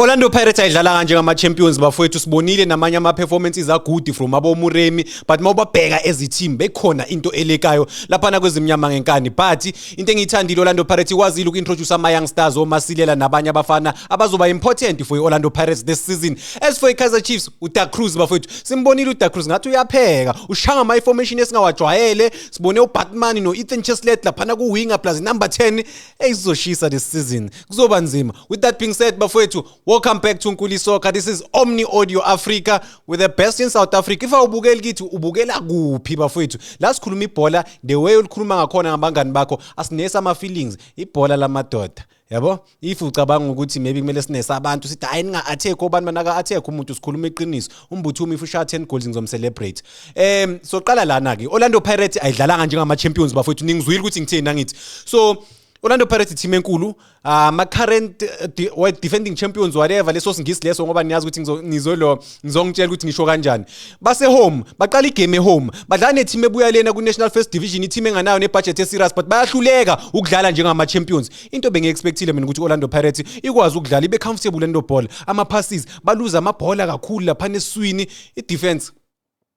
Orlando Pirates ayidlala kanje ngama champions bafowethu sibonile namanye ama performances agudi from abomuremi but mawubabheka as team bekhona into elekayo lapha na kwezimnyama ngenkani but into engiyithandile Orlando Pirates ikwazile ukintroduce ama young stars omasilela nabanye abafana abazoba important for Orlando Pirates this season as for iKaizer Chiefs uDa Cruz bafowethu simbonile uDa Cruz ngathi uyapheka ushanga ama formation esingawajwayele sibone uBatman no Ethan Cheslett lapha na ku winger plus number 10 eyizoshisa this season kuzoba nzima with that being said bafowethu welcome back to nkuli soccer this is omni audio africa with the best in south africa if awubukeli kithi ubukela kuphi bafowethu la sikhuluma ibhola the way ulikhuluma ngakhona ngabangani bakho asinesi ama-feelings ibhola lamadoda yabo if ucabanga ukuthi maybe kumele sinese abantu sithi hayi ninga-attack obani banaka-attack umuntu sikhuluma iqiniso umbuthumi if ushaya 10 goals ngizomcelebrate um soqala lana-ke orlando pirate ayidlalanga njengama-champions bafowethu ningizwile ukuthi ngithini nangithi so Orlando Pirates team enkulu ama ah, current eh, defending champions whatever leso singisi leso ngoba niyazi ukuthi ngizolo ngizongitshela ukuthi ngisho kanjani base home baqala igame home badlala ne team ebuya lena ku National First Division i team enganayo ne budget eserious but bayahluleka ukudlala njengama champions into bengi expectile mina ukuthi Orlando Pirates ikwazi ukudlala ibe comfortable lento ball ama passes baluza amabhola kakhulu lapha neswini i defense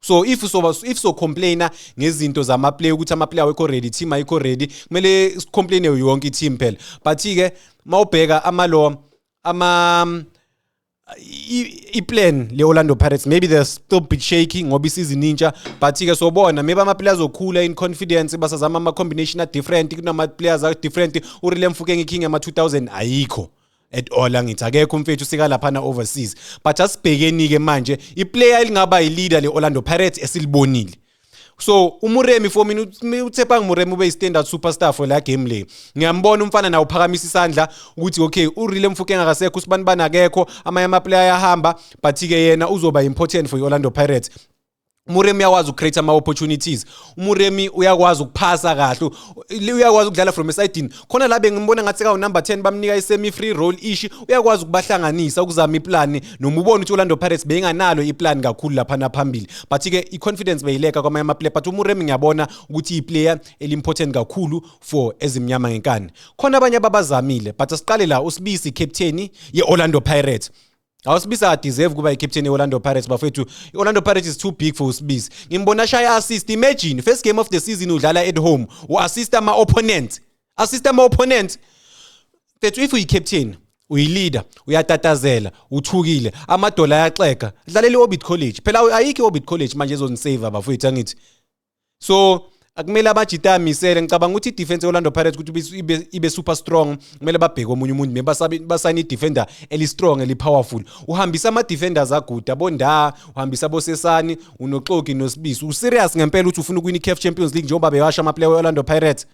so if soba if so complainer ngezinto zama player ukuthi ama player awekho ready team ayikho ready kumele complaine yonke team phela but ke mawubheka ama lo ama i-plan le-orlando pirates maybe they're still bit shaky ngoba isizini intsha but-ke sobona maybe ama-players okhula in confidence basazama ama-combination a-different kunama-players a-different urile mfukenge king ama-2000 ayikho at all angithi akekho umfethu sika laphana overseas but asibhekeni ke manje iplayer elingaba yileader leOrlando Pirates esilibonile so umuremi for mina uthepa ngimuremi ube istandard superstar for la game le ngiyambona umfana nawo uphakamisa isandla ukuthi okay urile mfuke engakasekho usibani banakekho amanye ama player ayahamba but ke yena uzoba important for iOrlando Pirates umuremi uyakwazi ucreate ama opportunities umuremi uyakwazi ukuphasa kahle uyakwazi ukudlala from esidini khona la bengimbona ngathi kawu number 10 bamnika isemi free roll ishi uyakwazi ukubahlanganisa ukuzama iplan noma ubona ukuthi Orlando Pirates benganalo iplan kakhulu lapha naphambili but ke iconfidence beyileka kwamanye ama player but umuremi ngiyabona ukuthi iplayer elimportant kakhulu for ezimnyama ngenkani khona abanye ababazamile but asiqale la usibisi captain ye Orlando Pirates awusibisa adeserve kuba icaptain ye-orlando pirates bafethu i-orlando pirates is too big for usibisi ngimbona shaya assist imagine first game of the season udlala at home u-assist ama-opponent assist ama-opponent fethu if uyi-captain uyilida uyatatazela uthukile amadola ayaxega dlalela i-orbit college phela ayikho i-orbit college manje ezonisave abafowethu angithi so akumele abajita amisele ngicabanga ukuthi idefense ye-orlando pirates ukuthi ibe, ibe super strong kumele babheke omunye umuntu me basayine idefender eli-strong eli-powerful uhambisa ama-defenders aguda bondaa uhambisa abosesani unoxoki nosibisi userious ngempela ukuthi ufuna ukuwina i-caf champions league njengoba bewasha amaplayer we-orlando pirates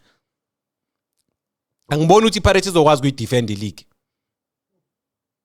angiboni ukuthi i-pirates izokwazi kuyidefend i-league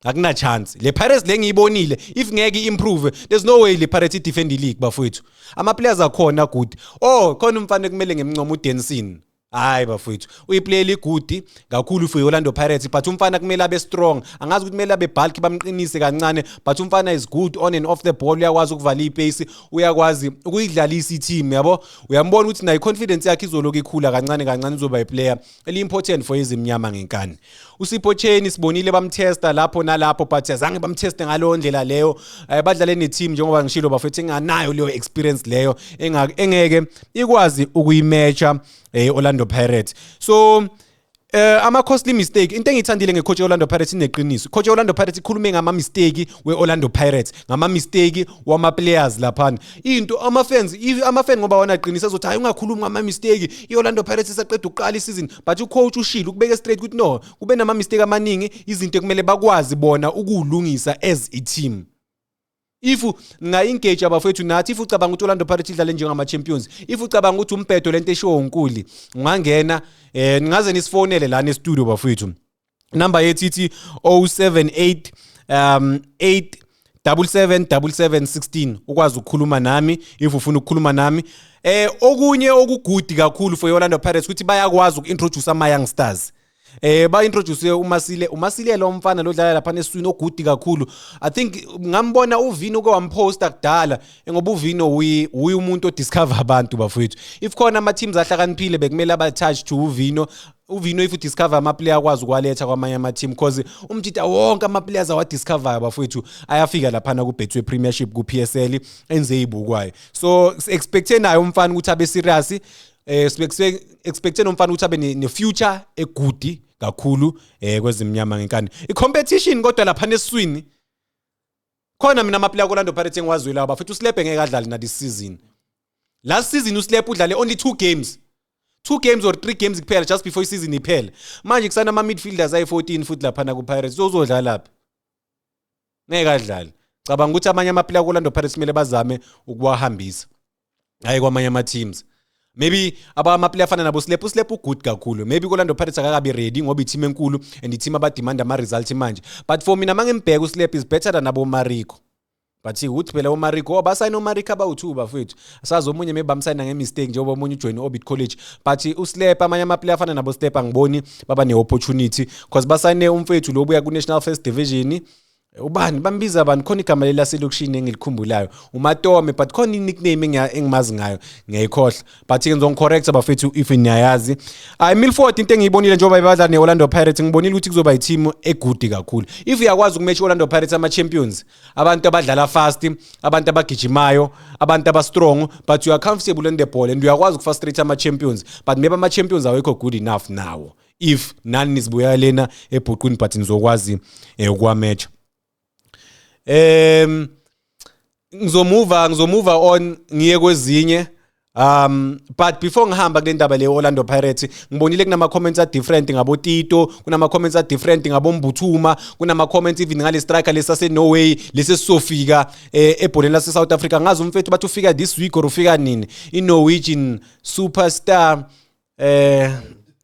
akuna chance le Pirates lengiyibonile if ngeke improve there's no way le Pirates defend the league bafowethu ama players akhona good oh khona umfana kumele ngemncoma uDenson hayi bafowethu uyiplayer igudi kakhulu for Orlando Pirates but umfana kumele abe strong angazi ukuthi kumele abe bulk bamqinise kancane but umfana is good on and off the ball uyakwazi ukuvala ipace uyakwazi ukuyidlalisa i-team yabo uyambona ukuthi nayo confidence yakhe izoloku ikhula kancane kancane izoba iplayer eliimportant for izimnyama ngenkani usipho cheni sibonile bamtesta lapho nalapho but azange bamteste ngalo ndlela leyo eh, badlale neteam njengoba ngishilo bafethu enganayo leyo experience leyo engeke ikwazi ukuyimatcha eh, Orlando Pirates so Eh ama costly mistake into engithandile ngecoach Orlando Pirates ineqiniso. Coach Orlando Pirates ikhulume ngama mistake weOrlando Pirates, ngama mistake wama players lapha. into amafans if amafan ngoba wona aqinisa ezothi hayi ungakhulumi ngama mistake iOrlando Pirates isaqeda ukuqala isizini but ucoach ushilo ukubeke straight ukuthi no kube nama mistake amaningi izinto ekumele bakwazi bona ukulungisa as a team if ngayengage abafethu nathi if ucabanga ukuthi Orlando Pirates idlale njengama champions if ucabanga ukuthi umbhedo lento eshiwo uNkuli ungangena eh ningaze nisifonele lana e studio bafethu number yethu ithi 078 um 8 777716 ukwazi ukukhuluma nami if ufuna ukukhuluma nami eh okunye okugudi kakhulu for Orlando Pirates ukuthi bayakwazi ukintroduce ama young stars eh ba introduce uMasile uMasile lo mfana lodlala lapha neswini ogudi kakhulu i think ngambona uvini uke wamposta kudala ngoba uvini uyi umuntu odiscover abantu bafowethu if khona ama teams ahlakaniphile bekumele aba touch to uvino uvino if udiscover amaplayer akwazi ukwaletha kwamanye ama-team because umjita wonke ama-players awadiscoveryo bafowethu ayafika laphana kubhethiwe premiership ku-p s l enze eyibukwayo so si-expecthe naye umfana ukuthi abe serious eh expecting umfana ukuthi abe ne future egudi kakhulu eh kwezimnyama ngenkani i competition kodwa lapha neswini khona mina amaplayer koLando Pirates engiwazwile aba futhi uSlepe ngeke adlale na this season last season uSlepe udlale only two games two games or three games kuphela just before isizini iphele manje kusana ama midfielders ayi-14 futhi laphana ku-pirates so uzodlala phi ngeke adlale cabanga ukuthi amanye amaplayer kolando pirates kumele bazame ukuwahambisa hayi kwamanye ama-teams maybe abamaplayer afana nabo slep uslep ugood kakhulu maybe kolando pirates akakabi ready ngoba iteam enkulu and iteam abademand ama-result manje but for mina uma ngimbheka uslep is better than abomariko but ukuthi phela omariko abasayina omariko abawu-two bafowethu sazi omunye maybe bamsayina ngemistake njengoba omunye ujoyine orbit college but uslep amanye amaplayer afana nabo slep angiboni baba ne-opportunity because basayine umfethu lo buya ku-national first division ubani bambiza abantu khona igama leli laselokishini engilikhumbulayo umatome but khona i-nickname engimazi ngayo ngiyayikhohla but-ke ngizongicorrecta bafethu if niyayazi hayi milford into engiyibonile njengoba ibadla ne-orlando pirates ngibonile ukuthi kuzoba yithimu egudi kakhulu if uyakwazi ukumatch i-orlando pirates ama-champions abantu abadlala fast abantu abagijimayo abantu abastrong but you are comfortable in the ball and uyakwazi ukufrustrate ama-champions but maybe ama-champions awekho good enough nawo if nani nizibuya lena ebhuqwini but nizokwazi eh, ukwamatch um ngizomuva ngizomuva on ngiye kwezinye Um but before ngihamba kule ndaba le Orlando Pirates ngibonile kunama comments a different ngabo Tito kunama comments a different ngabo Mbuthuma kunama comments even ngale striker lesa se Norway lesi sofika eh, ebholeni lase South Africa ngazi umfethu bathi ufika this week or ufika nini i Norwegian superstar eh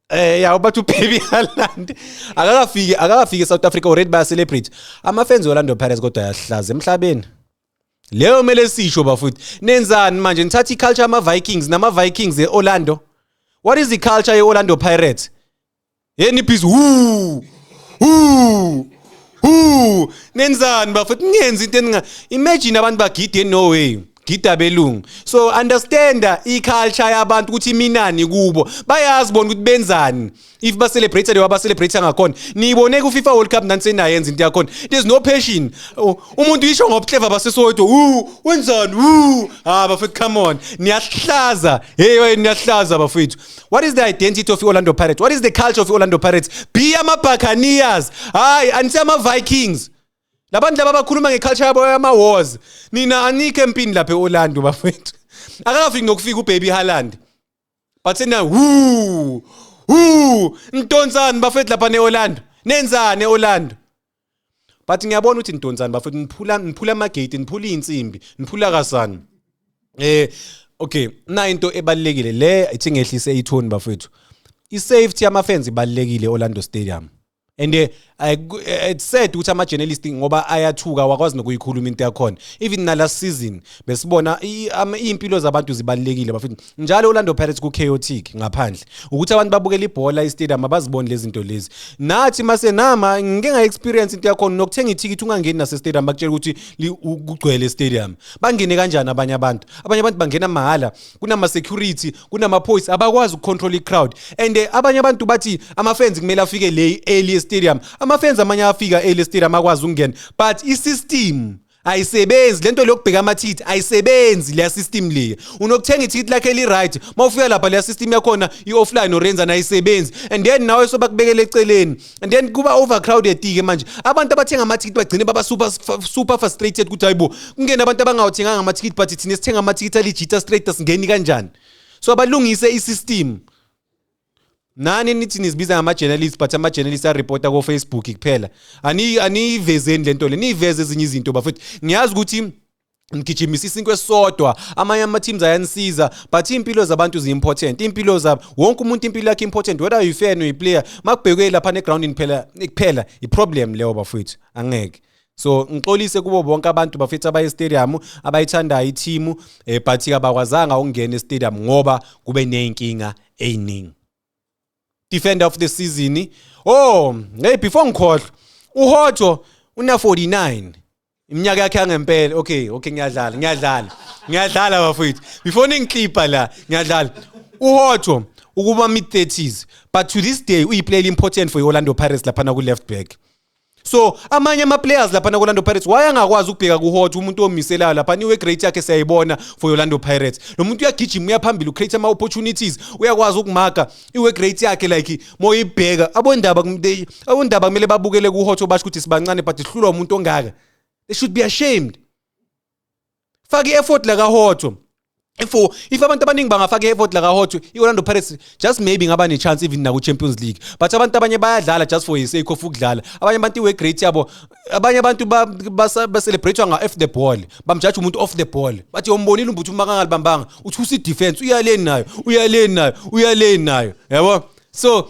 eh ya ubathi ubaby Haaland akakafiki akakafiki eSouth Africa already ba celebrate ama fans Orlando Pirates kodwa ayahlaza emhlabeni leyo mele sisho bafuthi nenzani manje nithatha iculture ama Vikings nama Vikings eOrlando what is the culture yeOrlando Pirates Hey nibhizi hu hu hu nenzani bafethu ningenza into eninga imagine abantu bagide no way gida belungu so understand i culture yabantu ukuthi minani kubo bayazi bona ukuthi benzani if ba celebrate lewa ba celebrate ngakhona niyibone ku FIFA World Cup nantsena yenza into yakhona there's no passion oh, umuntu yisho ngobhleva basesodwa u wenzani u ha bafethu come on niyahlaza hey niyahlaza bafethu what is the identity of i-orlando pirates what is the culture of i-orlando pirates be ama-buccaneers hhayi anise ama-vikings labantu laba abakhuluma nge-culture yabo yama-wars nina anikho empini lapha e-orlando bafethu akakafiki nokufika ubaby halland but sena hu hu ntontsani bafethu lapha ne-orlando nenzani e-orlando but ngiyabona ukuthi nidonsani bafethu niphula niphula amagate niphula izinsimbi niphula kasani eh okay na into ebalekile le ithi ngehlise ithoni bafethu i safety yama fans ibalekile Orlando Stadium and eh, eh, eh, it's sad ukuthi ama journalist ngoba ayathuka wakwazi nokuyikhuluma into yakhona even nala season besibona impilo zabantu zibalekile bafethu njalo Orlando Pirates ku chaotic ngaphandle ukuthi abantu babukela ibhola istadium abaziboni lezi zinto lezi nathi mase nama ngike nga experience into yakho nokuthenga ithikithi ungangeni nase stadium bakutshela ukuthi kugcwele stadium bangene kanjani abanye abantu abanye abantu bangena mahala kunama security kunama police abakwazi ukucontrol i crowd and eh, abanye abantu bathi ama fans kumele afike le early stadium ama fans amanye afika early stadium akwazi ukungena but i system ayisebenzi lento lokubheka amathikithi ayisebenzi leya system leya unokuthenga ithikithi lakhe li-right uma ufika lapha leya system yakhona i-offline orenza nayisebenzi and then nawe sobakubekela eceleni and then kuba overcrowded-ke manje abantu abathenga amathikithi bagcine baba super, super frustrated ukuthi hayi bo kungena abantu abangawathenganga amathikithi but thina sithenga amathikithi alijita straight asingeni kanjani so abalungise i-system nani nithi nizibiza ngama-journalist but ama-journalist arepota kofacebook kuphela aniyivezeni le nto le niyiveze ezinye izinto bafethu ngiyazi ukuthi ngigijimisa isinkwe esisodwa amanye ama-teams ayanisiza but iy'mpilo zabantu zi-important iy'mpilo zabo wonke umuntu impilo yakhe important whether uyi-fan uyi-player uma kubhekwe lapha negrawundini phela kuphela i-problem leyo bafowethu angeke so ngixolise kubo bonke abantu bafethu abaye stadium abayithandayo ithimu eh, but kabakwazanga ukungena estadium ngoba kube nezinkinga eziningi defender of the season oh hey before ngikhohlwa uHotho una 49 iminyaka yakhe yangempela okay okay ngiyadlala ngiyadlala ngiyadlala bafethu before ningiklipa la ngiyadlala uHotho ukuba mid 30s but to this day uyiplayer important for iOrlando Pirates lapha na ku left back so amanye ama-players lapha naku-orlando pirates wayangakwazi ukubheka kuhot umuntu omiselayo lapha niwe great yakhe siyayibona for orlando pirates lo muntu uyagijima uyaphambili ucreate ama-opportunities uyakwazi ukumaga iwe great yakhe like moyibheka abondaba abondaba kumele babukele kuhot obasho ukuthi sibancane but sihlulwa umuntu ongaka they should be ashamed faka i-effort la kahotho if if abantu abaningi bangafaka i-effort la kahotho i-orlando pirates just maybe ngaba ne-chance even naku-champions league but abantu abanye bayadlala just for isake of ukudlala abanye abantu iwe-great yabo abanye abantu bacelebratwa nga-off the ball bamjaja umuntu off the ball bathi yombonile umbuthi uma kangalibambanga uthi usi-defense uyaleni nayo uyaleni nayo uyaleni nayo yabo so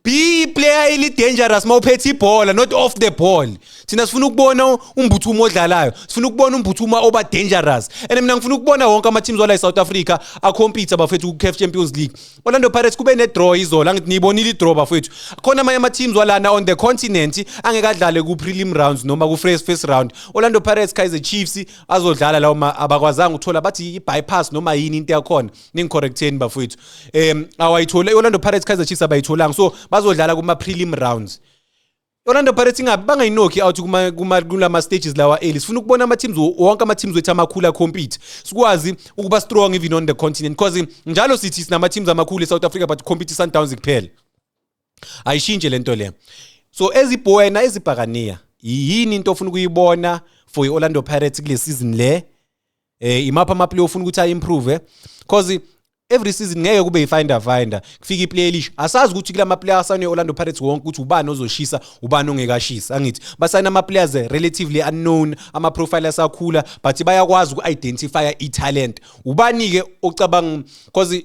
be iplayer eli dangerous mawuphethe ibhola not off the ball thina sifuna ukubona umbuthumo odlalayo sifuna ukubona umbuthumo oba dangerous and mina ngifuna ukubona wonke ama teams wala eSouth Africa a compete abafethu ku CAF Champions League Orlando Pirates kube ne draw izola ngithi niyibonile i draw bafethu khona amanye ama teams walana on the continent angeke adlale ku prelim rounds noma ku first first round Orlando Pirates Kaizer Chiefs azodlala lawo abakwazanga uthola bathi i bypass noma yini into yakhona ningicorrecteni bafowethu um awayithole i-orlando pirates kaizer chiefs abayitholanga so bazodlala kuma-prelim rounds Orlando Pirates ingabe bangayinokhi out kuma kuma kulama stages lawa early sifuna ukubona ama teams wonke ama teams wethu amakhulu compete sikwazi ukuba strong even on the continent because njalo sithi sinama teams amakhulu eSouth Africa but compete Sundowns kuphela ayishintshe lento le so ezibhoyena ezibhakaniya yini into ofuna ukuyibona for iOrlando Pirates kule season le eh imapha ama player ufuna ukuthi ayimprove eh? because every season ngeke kube yifinder finder kufika iplayer elish asazi ukuthi kulama player asane Orlando Pirates wonke ukuthi ubani ozoshisa ubani ongekashisa angithi basayina ama players eh, relatively unknown ama profile asakhula but bayakwazi uku identify i talent ubani ke ocabanga because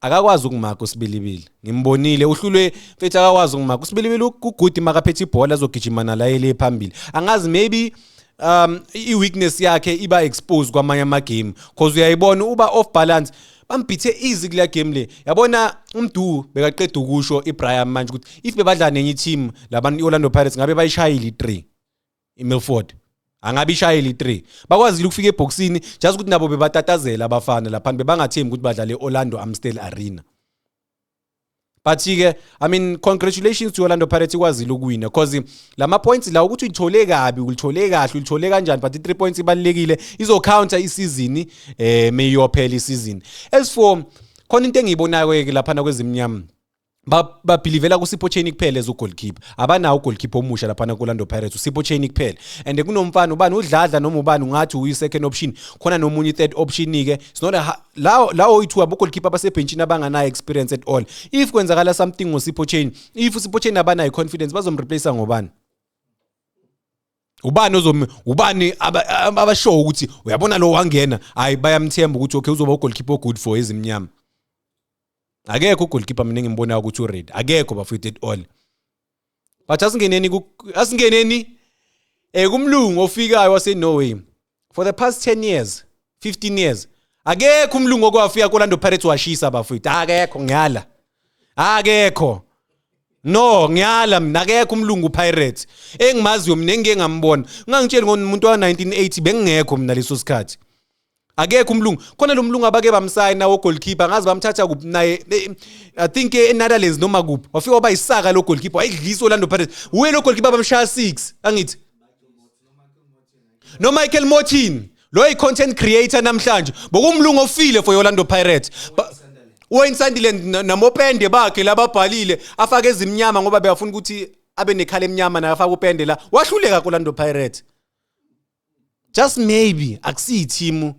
akakwazi ukumaka usibilibili ngimbonile uhlulwe mfethu akakwazi ukumaka usibilibili ugudi makaphethe ibhola azogijima nalayele phambili angazi maybe um i-weakness yakhe iba exposed kwamanye amagame cause uyayibona uba off balance bambithe easy kule game le yabona umdu bekaqeda ukusho ibrian manje ukuthi if bebadla nenye iteam labantu i-orlando pirates ngabe bayishayile i-three iMilford angabe ishayeli 3 bakwazile ukufika ebhoksini just ukuthi nabo bebatatazela abafana lapha bebangathembi ukuthi badlale eOrlando Amstel Arena but ke i mean congratulations to Orlando Pirates ikwazile ukuwina because lama points la ukuthi uyithole kabi ulithole kahle ulithole kanjani but i3 points ibalekile izo counter isizini eh meyophela isizini as for khona into engiyibonayo ke lapha na kwezimnyama babhilivela kusipho chain kuphela as ugoalkeeper abanawo ugoalkeeper omusha lapha nakolando pirates usipho chain kuphela and kunomfana ubani udladla noma ubani ungathi uyi-second option khona nomunye i-third option-ke lawo lawo oyi-two abogoalkeeper abasebhentshini abanganayo experience at all if kwenzakala something ngosipho chain if usipho chain abanayo i-confidence bazomreplace ngobani ubani ozom ubani abashowo ukuthi uyabona lo wangena hayi bayamthemba ukuthi okay uzoba ugoalkeeper ogood for ezimnyama akekho ugoalkeeper mina ngimbonayo ukuthi ured akekho bafethu at all but asingeneni asingeneni um eh, kumlungu ofikayo wasenorway for the past 10 years 15 years akekho umlungu okwafika kolando pirates washisa bafethu akekho ngiyala akekho no ngiyala mina akekho umlungu pirates engimaziyo mina engike ngambona ungangitsheli ngomuntu wa-1980 bengingekho mina leso sikhathi akekho umlungu khona lo mlungu abake bamsayi nawo goalkeeper ngazi bamthatha kuphi naye i think eNetherlands noma kuphi wafika waba isaka lo goalkeeper wayidlisa Orlando Pirates uye lo goalkeeper bamshaya 6 angithi no Michael Mortin lo yi content creator namhlanje bokumlungu ofile for Orlando Pirates ba, Waynsandile namopende bakhe lababhalile afake ezimnyama ngoba beyafuna ukuthi abe nekhala emnyama naye afaka upende la wahluleka kuLando Pirates just maybe akusiyi team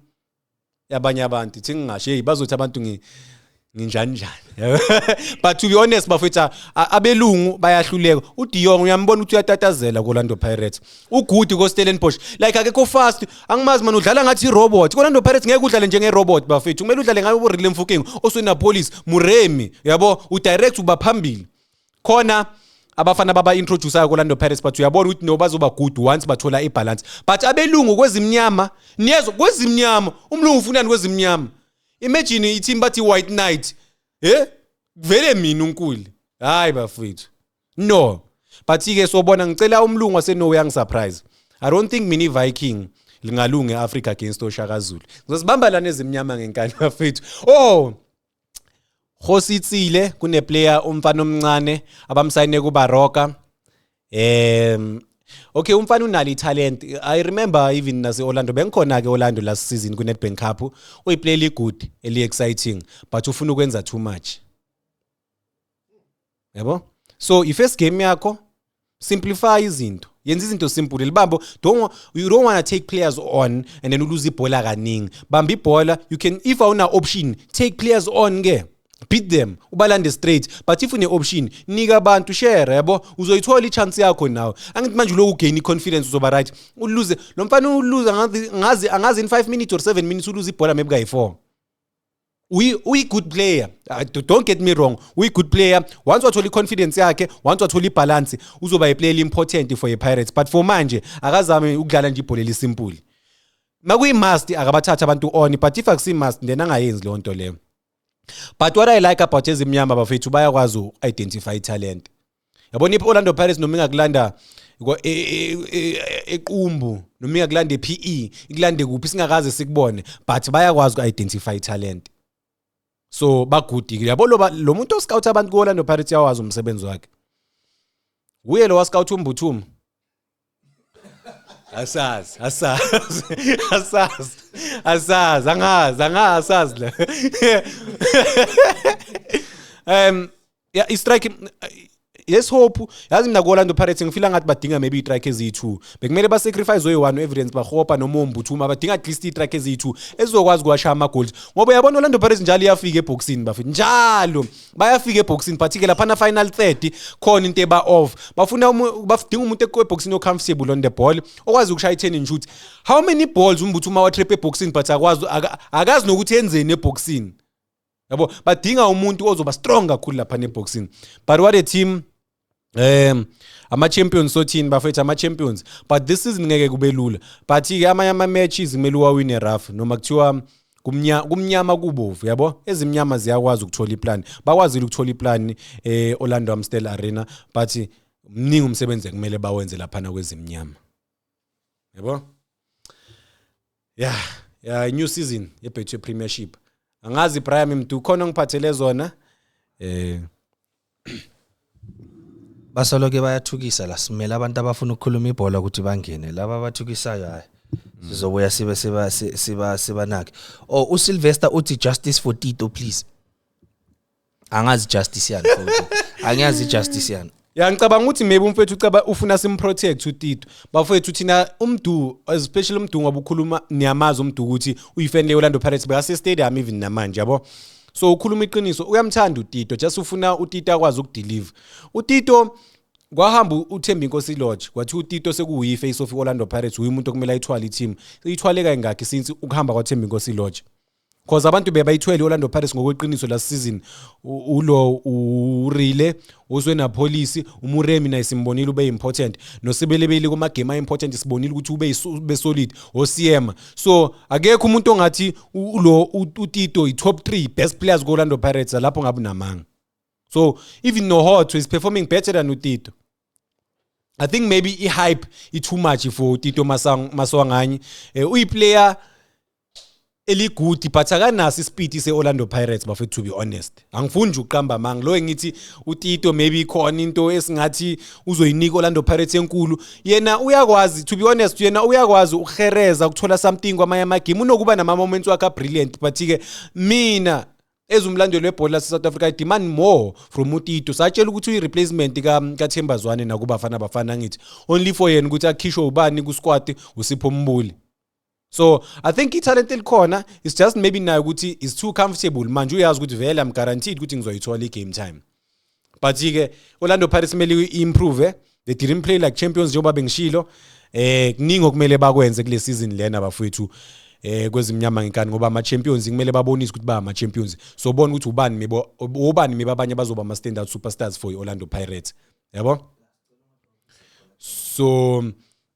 yabanye abantu thi ngingasho hey bazothi abantu ngi nginjani njani but to be honest bafethu abelungu bayahluleka uDion uyambona ukuthi uyatatazela koLando Pirates uGudi koStellenbosch like akekho fast angimazi manje udlala ngathi irobot koLando Pirates ngeke udlale njenge robot bafethu kumele udlale ngayo uRilem Fuking oswena police Muremi yabo udirect ubaphambili khona abafana baba introducer ko Orlando Pirates but uyabona ukuthi no bazoba good once bathola i balance but abelungu kwezimnyama niyezo kwezimnyama umlungu ufunani kwezimnyama imagine i team bathi white knight eh vele mina unkuli hayi bafethu no but ke sobona ngicela umlungu waseNorway angisurprise i don't think mini viking lingalunga eAfrica against oShaka Zulu ngizosibamba lana ezimnyama ngenkani bafethu oh Khositsile kuneplayer umfana omncane abamsayine kuBaroka um Okay umfana unalo italent I remember even nase Orlando bengikhona ke Orlando last season ku Nedbank Cup uyi play eli good eli exciting but ufuna ukwenza too much yabo so i-first game yakho simplify izinto yenza izinto simple libambo don't you don't want to take players on and then uluze ibhola kaningi bamba ibhola you can if awuna option take players on ke beat them ubalande straight but if une option nika abantu share yabo uzoyithola ichance yakho nawe angithi manje uloku gain confidence uzoba right uluze lo mfana uluza ngazi angazi in 5 minutes or 7 minutes uluze ibhola maybe kayi 4 uyi-good player ah, don't get me wrong uyi-good player once wathola i-confidence yakhe once wathola ibhalansi uzoba yiplayer eli-important for i-pirates but for manje akazame ukudlala nje ibhola elisimpuli uma kuyi-must akabathatha abantu on but if akusi-must then angayenzi leyo nto leyo but what i like about ezimnyama bafethu bayakwazi u-identify italent yabona i-orlando pirates noma ingakulanda e, e, e, equmbu noma ingakulanda e-p e ikulande kuphi singakaze sikubone but bayakwazi uku-identify italent so bagudikile yabo lo muntu oscout abantu ku-orlando pirates yawazi umsebenzi wakhe wuye lo wascout umbuthuma asazi asazi asazi asazi angazi angazi asazi la um ya i-strike yes hope yazi mina ku-orlando pirates ngifila ngathi badinga maybe i-trike eziyi-two bekumele basacrifice oyi-one u-evidence bahopa noma ombuthuma badinga at least i-trike eziyi-two ezizokwazi ukuwasha ama-goals ngoba uyabona orlando pirates njalo iyafika ebhokisini bafethu njalo bayafika ebhoksini but ke laphana final 30 khona into eba off bafuna bafidinga umuntu ekwebhoksini ocomfortable on the ball okwazi ukushaya i-turning shoot how many balls umbuthi uma watrap ebhoksini but akwazi akazi nokuthi enzeni ebhoksini yabo badinga umuntu ozoba strong kakhulu lapha nebhoksini but what a team um ama-champions sothini bafethu ama-champions but this season ngeke kube lula but-ke amanye ama-matches kumele uwawine rough noma kuthiwa kumnyama kumnyama kubovu yabo ezimnyama ziyakwazi ukuthola iplan bakwazile ukuthola iplan e-orlando amstel arena but mningi umsebenzi ekumele bawenze laphana kwezimnyama yabo ya ya new season yebhethu yepremiership angazi ibrahim mdu khona ngiphathele zona eh basoloke bayathukisa la simele abantu abafuna ukukhuluma ibhola ukuthi bangene laba abathukisayo hayi sizobuya sibe siba siba sibanake oh uSylvester uthi justice for Tito please angazi justice yani futhi angiyazi justice yani ya ngicabanga ukuthi maybe umfethu ucaba ufuna simprotect utito bafethu thina umdu especially umdu ngoba ukhuluma niyamazi umdu ukuthi uyifan le-orlando pirates bekasestadium even namanje yabo so ukhuluma iqiniso uyamthanda utito just ufuna utito akwazi ukudeliver utito kwahamba uthemba inkosi lodge kwathi utito sekuwuyi face of orlando pirates uyi umuntu okumele ayithwale i-team ithwale kayingakhi since ukuhamba kwathemba inkosi lodge Cause abantu bebayithwele iOrlando Pirates ngokweqiniso last season. U- Ulo uRile uswe naPolice, uMuremi naye simbonile ube important. Nosebelebeli kuma game important sibonile ukuthi ube isu- ube solid oSiema. So akekho umuntu ongathi u- ulo u- uTito i top 3 best players kuOrlando Pirates lapho ngabe unamanga. So even Nohotho is performing better than uTito. I think maybe i hype i too much for Tito Masang Maswanganyi eh, uyi player eligudi but akanaso isipiti se-orlando pirates bafethu to be honest angifuni nje uqamba amanga lo engithi utito maybe ikhona into esingathi uzoyinika orlando pirates enkulu yena uyakwazi to be honest yena uyakwazi ukuhereza ukuthola something kwamanye amagame unokuba nama-moments wakhe abrilliant but-ke mina ezwe umlandeli webhola lase-south africa i demand more from utito satshela ukuthi uyi-replacement kathemba zwane nakubafana bafana angithi only for yena ukuthi akhishwe ubani kusquad usipho mbuli so i think ithalente elikhona is just maybe nayo ukuthi is too comfortable manje uyazi ukuthi vele am guaranteed ukuthi ngizoyithola i-game time but ke Orlando Pirates kumele improve they didn't play like champions njengoba bengishilo eh kuningi okumele bakwenze kule season lena bafowethu eh kwezimnyama ngenkani ngoba ama champions kumele babonise ukuthi ba ama champions so bona ukuthi ubani mebo ubani meba abanye bazoba ama standout superstars for Orlando Pirates yabo so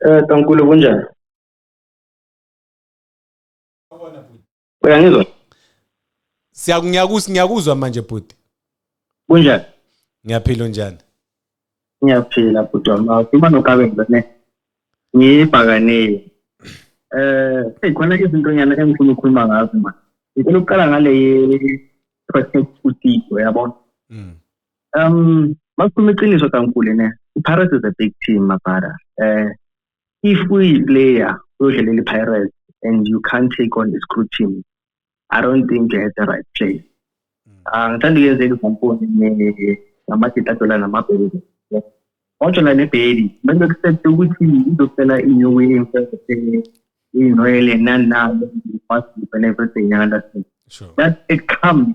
Eh Tankulu kunjani? Uyangizwa? Siyakunyakuzwa ngiyakuzwa manje bhuti. Kunjani? Ngiyaphila unjani? Ngiyaphila bhuti wami. Ukhuluma noKabe ngibone. Ngibhakanile. Eh, hey khona izinto nyana engifuna ukukhuluma ngazo manje. Ngicela ukuqala ngale ye protect usiko yabona. Mm. Um, makukhuluma iqiniso kankulu ne iPirates is a big team mabhara. Eh if uyiplayer uyodlalela iPirates and you can't take on the screw team, I don't think you're at the right place. Angithanda mm. ah, ukuyenzeka izamponi namagita dola namabheli. Ngojola nebheli, bese kusethe ukuthi izofela inew way emfese inoyele nanalo, and everything, you understand? Sure. That it comes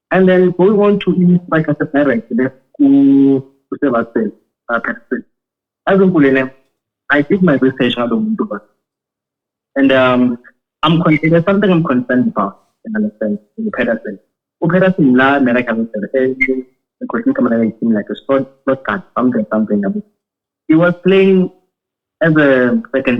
And then going on to i-strike aseparent le kusebasil apasil azinkulele i did my research ngalo muntu ba and um i'm there's something i'm concerned about in the sense in the peterson upeterson la america ngisebenza ekhosini kamana ngiyithini like a sport sport card something something he was playing as a second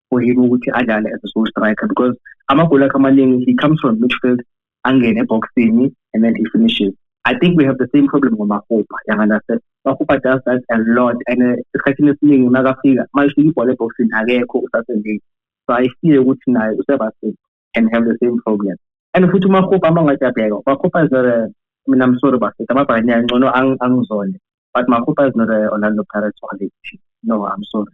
for him ukuthi adlale as a sole striker because amagoli akhe amaningi he comes from midfield angene eboxini and then he finishes I think we have the same problem ngoMahopa yanganase Mahopa does that a lot and uh, esikhathini esiningi makafika mayishika ibhola eboxini akekho usasendile so I fear ukuthi naye uSebastian can have the same problem and futhi uMahopa amangathi abheka uMahopa is not a mina I'm sorry bafethu amabhakani angcono angizonde but Mahopa is not a Orlando Pirates quality no I'm sorry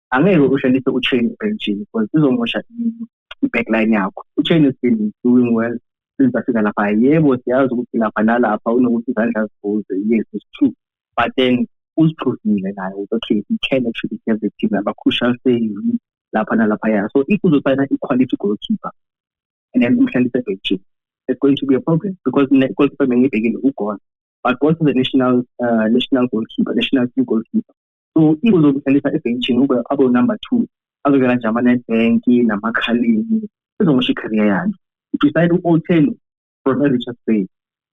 angeke ushonise uchain ubenjini because izomosha i-backline yakho uchain has been doing well since afika lapha yebo siyazi ukuthi lapha nalapha unokuthi izandla zivuze yes it's true but then uziphuzile naye ukuthi okay he can actually get the team number crucial saying lapha nalaphaya so if uzosayina i-quality goalkeeper and then umhlalise ebhenjini it's going to be a problem because ne-goalkeeper bengiyibhekile ugona but also the national uh, national goalkeeper national team goalkeeper so if uzokudlalisa ebhentshini ube abe number two azodlala nje ama-netbank namakhalini ezomosha i-career yakhe if usayina u-otelo from e-richards bay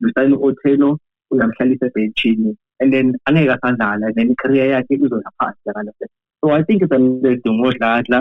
usayina u-otelo uyamhlalisa ebhentshini and then angeke asadlala and then i-career yakhe izoya phansi yakalase so i think it's a mistake ngodladla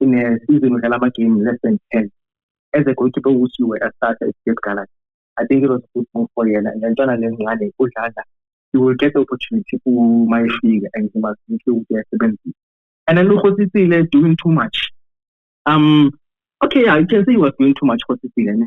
in a season udlala ama-game less than ten as a goalkeeper ukuthi you were a starter at Cape Galaxy I think it was a good move for yena ngentwana lencane udlala you will get the opportunity uma efika and he must make sure ukuthi uyasebenzisa and then ukhosisile doing too much um okay yeah, you can say he was doing too much khosisile ne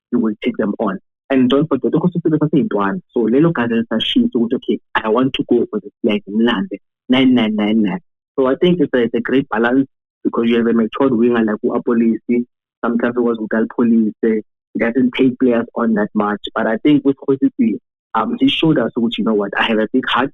you will take them on and don't forget ukuthi sibe saseyintwana so lelo gazi lisashisa ukuthi okay i want to go for this flag ngimlande 9999 so i think it's a, it's a great balance because you have a matured winger like uapolisi sometimes ukwazi ukuthi alipolise he doesn't take players on that much but i think with khosisi um he showed us ukuthi you know what i have a big heart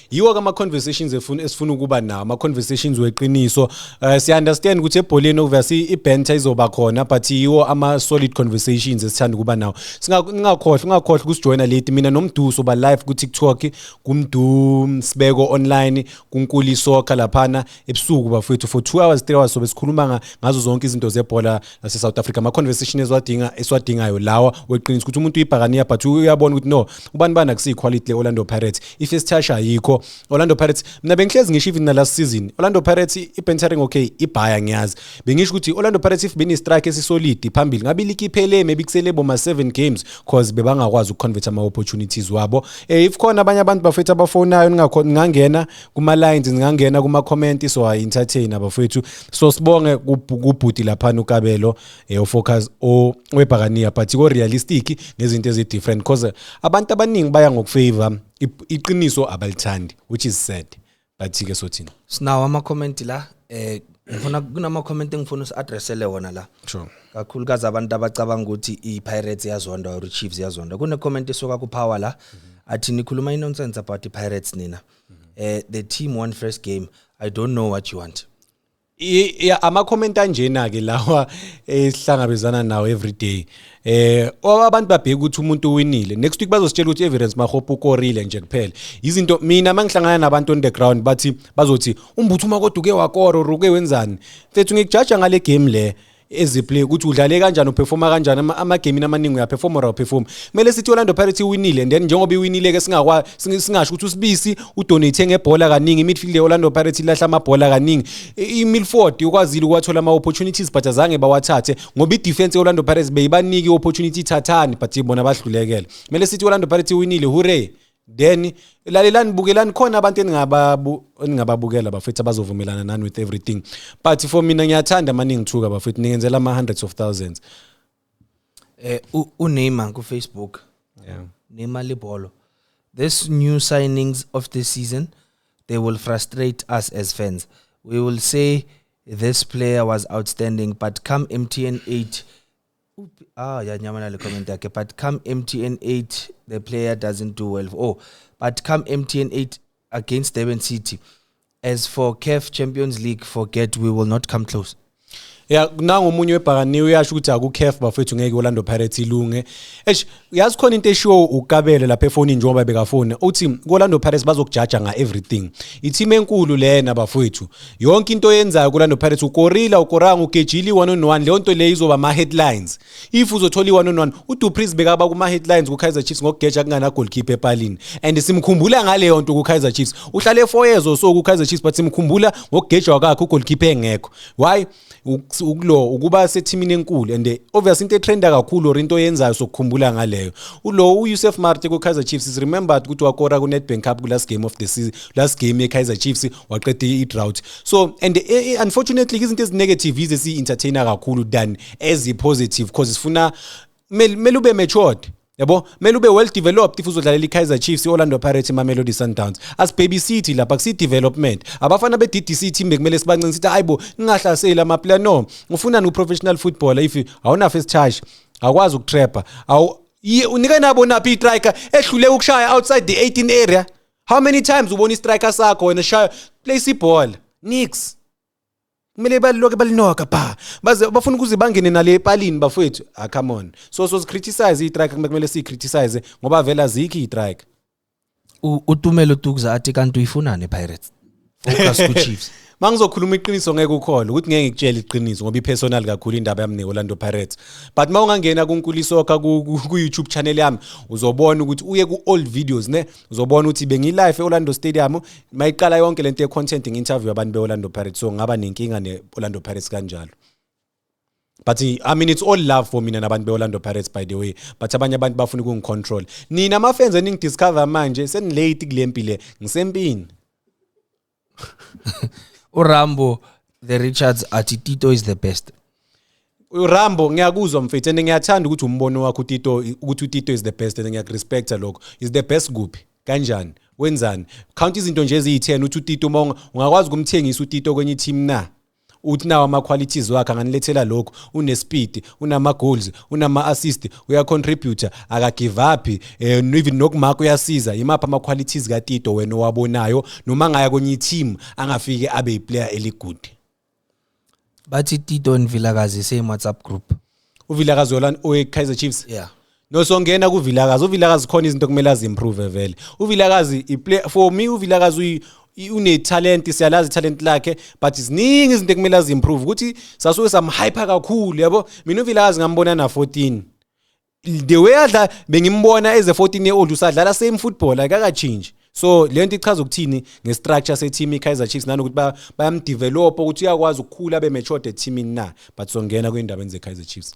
yiwo kama conversations efuna esifuna ukuba nawo ama conversations weqiniso uh, siya understand ukuthi ebholeni obviously ibenta izoba khona but yiwo ama solid conversations esithanda ukuba nawo singakhohlwa ungakhohlwa ukusijoina late mina nomduso ba live ku TikTok kumdu sibeko online kunkuli soccer laphana ebusuku bafowethu for 2 hours 3 hours sobe sikhuluma ngazo zonke izinto zebhola lase South Africa ama conversation eziwadinga esiwadingayo lawa weqiniso ukuthi umuntu uyibhakaniya but uyabona ukuthi no ubani bani akusiyi quality le Orlando Pirates if isithasha ayikho Orlando Pirates mina bengihlezi ngisho even na last season Orlando Pirates ibentering okay ibhaya ngiyazi bengisho ukuthi Orlando Pirates if beni strike esisolid phambili ngabe likiphele maybe kusele boma 7 games cause bebangakwazi ukuconvert ama opportunities wabo eh if khona abanye abantu bafethu abafonayo ningakhona ngangena kuma lines ningangena kuma comment so i entertain abafowethu so sibonge kubhuti lapha uKabelo eh focus o webhakaniya but ko realistic ngezinto ezi different because abantu abaningi baya ngokufavor iqiniso abalithandi which is sad but ke sothini sinawo ama comment la eh ngifuna kunama comment engifuna usiaddressele wona la sure kakhulu kaze abantu abacabanga ukuthi iPirates yazonda or iChiefs yazonda kune comment esuka kuPower la mm -hmm. athi nikhuluma inonsense about iPirates nina mm -hmm. eh the team won first game i don't know what you want amakhomenti anjena-ke lawa esihlangabezana nawo every day eh abantu babheka ukuthi umuntu uwinile next week bazositshela ukuthi evidence mahope ukorile nje kuphela izinto mina mangihlangana nabantu on the ground bathi bazothi umbuthu uma kodwa uke wakora or uke wenzani mfethu ngikujaja ngale game le eziplay ukuthi udlale kanjani uperforma kanjani ama- amagemini amaningi uyaperforma or awuperformi kumele sithi orlando pirates iwinile and then njengoba iwinile-ke singakwa- singi- singasho ukuthi usibisi udonate ngebhola kaningi imidfield ye-orlando pirates ilahla amabhola kaningi I- imilford ukwazile ukuwathola ama-opportunities but azange bawathathe ngoba idefense ye-orlando pirates beyibanike i-opportunity ithathani but bona bahlulekele kumele sithi i-orlando pirates iwinile hurray then lalelani bukelani khona abantu eningababu eningababukela bafethu abazovumelana nani with everything but for mina ngiyathanda maningi thuka bafethu ningenzela ama hundreds of thousands eh uNeymar ku Facebook yeah Neymar libolo this new signings of this season they will frustrate us as fans we will say this player was outstanding but come MTN 8 Ah, yeah, Nyamana comment yakhe. But come MTN 8, the player doesn't do well. Oh, but come MTN 8 against Durban City. As for CAF Champions League, forget we will not come close. ya nangomunye webhakaniwe uyasho ukuthi aku-caf bafethu ngeke orlando pirates ilunge eish uyazi khona into eshiwo ukabele lapha efonini njengoba bekafoni uthi kolando pirates bazokujaja nga-everything ithima enkulu lena bafowethu yonke into oyenzayo kolando pirates ukorila ukoranga ugejile i-one on one leyo nto leyo izoba ama-headlines if uzothola i-one on one udupris bekaba kuma-headlines kukaizer chiefs ngokugeja kunganagolkhipha epalini and simkhumbula ngaleyo nto kukaizer chiefs uhlale four years or so kukaizer chiefs but simkhumbula ngokugejwa kwakhe ugolkhipha engekho why ukulo ukuba sethimini enkulu and obviously into etrenda kakhulu or into oyenzayo sokukhumbula ngaleyo ulo uYusuf Marte kuKaizer Chiefs is remembered ukuthi wakora kuNedbank Cup kulast game of the season last game yeKaizer Chiefs waqeda idrought so and eh, eh, unfortunately izinto ezinegative yize si entertainer kakhulu than as positive because sifuna mele ube matured yabo kumele ube well developed if uzodlalela i-kaizer chiefs i-orlando pirates imamelodi sundowns asibhebisithi lapha kusiyi-development abafana be-ddc team bekumele sibancini sithi hayi bo ningahlaseli amaplayer no ufunani u-professional footballer if awunafe isithashi awukwazi ukutrapha unike nabo naphi i-striker ehlule ukushaya outside the 18 area how many times ubona i-striker sakho wena shaya place ibhola nix kumele baliloke balinoka ba baze bafuna ukuze bangene nale epalini bafowethu ah come on so so criticize i-strike kumele siyicriticize ngoba vele azikho i-strike U- utumelo tukza athi kanti uyifunani pirates focus kuchiefs mangizokhuluma iqiniso ngeke ukhole ukuthi ngeke ngikutshele iqiniso ngoba ipersonal kakhulu indaba yami ne-orlando pirates but ma ungangena kunkulisokha ku-youtube channel yami uzobona ukuthi uye ku-old videos ne uzobona ukuthi bengilive e-orlando stadium uma iqala yonke le nto ye-content ngi-interview abantu be-orlando pirates so ngaba nenkinga ne-orlando pirates kanjalo but i mean it's all love for mina nabantu be-orlando pirates by the way but abanye abantu bafuna ukungicontrol nina amafenzi eningidiscover manje senilate kule mpile ngisempini urambo the richards athi tito is the best urambo ngiyakuzwa mfethu and ngiyathanda ukuthi umbono wakho utito ukuthi utito is the best and ngiyakurespecta lokho is the best kuphi kanjani wenzani count izinto nje eziyi-10 uthi utito uma ungakwazi ukumthengisa utito kwenye i-team na uthi nawo ama-qualities wakhe anganilethela lokhu unespeed unama-goals unama-assist uyacontributor akagive up um even nokumaka uyasiza yimaphi ama-qualities katito wena owabonayo noma ngaya kwenye i-team angafike abe yiplayer eligude bathi tito nvilakazi same whatsapp group uvilakazi owe-kaizer chiefs yeah nosongena kuvilakazi uvilakazi khona izinto kumele aziimprove vele uvilakazi for me uvilakazi unetalent siyalazi italent lakhe but ziningi izinto ekumele aziimprove ukuthi sasuke samhyper kakhulu yabo mina uvilakazi ngambona na-14 the way adla bengimbona eze 14 year old usadlala same football akakachinji so le nto ichaza ukuthini ngestructure seteam ikaizer chiefs nanokuthi bayamdevelopha ukuthi uyakwazi ukukhula abe matured eteamini na but songena kwindabeni zekaizer chiefs